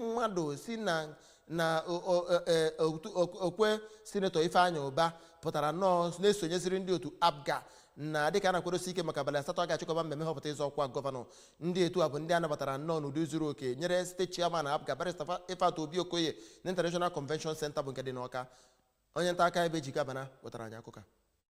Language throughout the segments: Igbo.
mmadụ si na na o- o- e- e- otu- ok- okwe senetọ Ifeanyi Ubah pụtara nnọọ na-esonyeziri ndị otu APGA na dịka a na-akwadosi ike maka abalị asatọ a ga-achịkọba mmemme nhọpụta ịzọ ọkwa gọvanọ ndị etu a bụ ndị a nabatara nnọọ n'ụdị zuru oke nyere steeti chairman APGA barista Fa- ifeatụ obi okoye na international convention center bụ nke dị n'ọka onye nta akụkọ bụ Ejike Abana wetara anyị akụkọ a.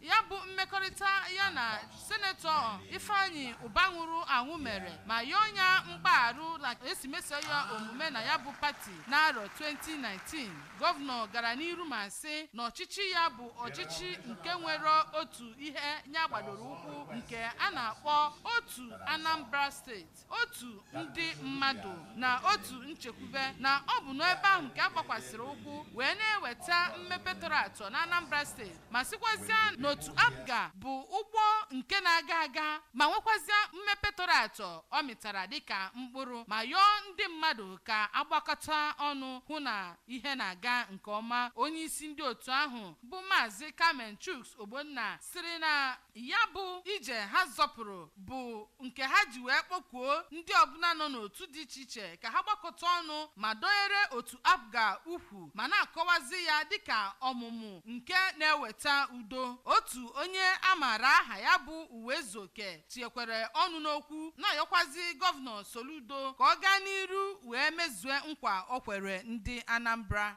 ya bụ mmekọrịta ya na senetọ Ifeanyi Ubah nwụrụ anwụ mere ma yọọ nya mgbagharụ na e si meso ya omume na ya bụ pati n'arọ 2019 gọvanọ gara n'iru ma sị na ọchịchị ya bụ ọchịchị nke nwere otu ihe nya gbadoro ụkwụ nke a na-akpọ otu Anambra steeti otu ndị mmadụ na otu nchekwube na ọ bụ n'ebe ahụ ka a gbakwasịrị ụkwụ wee na-eweta mmepe tọrọ atọ na Anambra steeti ma sịkwazịa na otu APGA bụ ụgbọ nke na-aga aga ma nwekwazịa mmepe tọrọ atọ ọ mịtara dịka mkpụrụ ma yọọ ndị mmadụ ka a gbakọta ọnụ hụ na ihe na-aga nke ọma onye isi ndị otu ahụ bụ maazị Kamen Chuks Ogbonna sịrị na Ya bụ ije ha zọpụrụ bụ nke ha ji wee kpọkuo ndị ọbụla nọ n'otu dị iche iche ka ha gbakọta ọnụ ma dọnyere otu APGA ukwu ma na-akọwazi ya dịka ọmụmụ nke na-eweta udo. Otu onye a maara aha ya bụ Uwezuoke tinyekwere ọnụ n'okwu na-ayọkwazi Gọvanọ Soludo ka ọ gaa n'iru wee mezue nkwa o kwere ndị Anambra.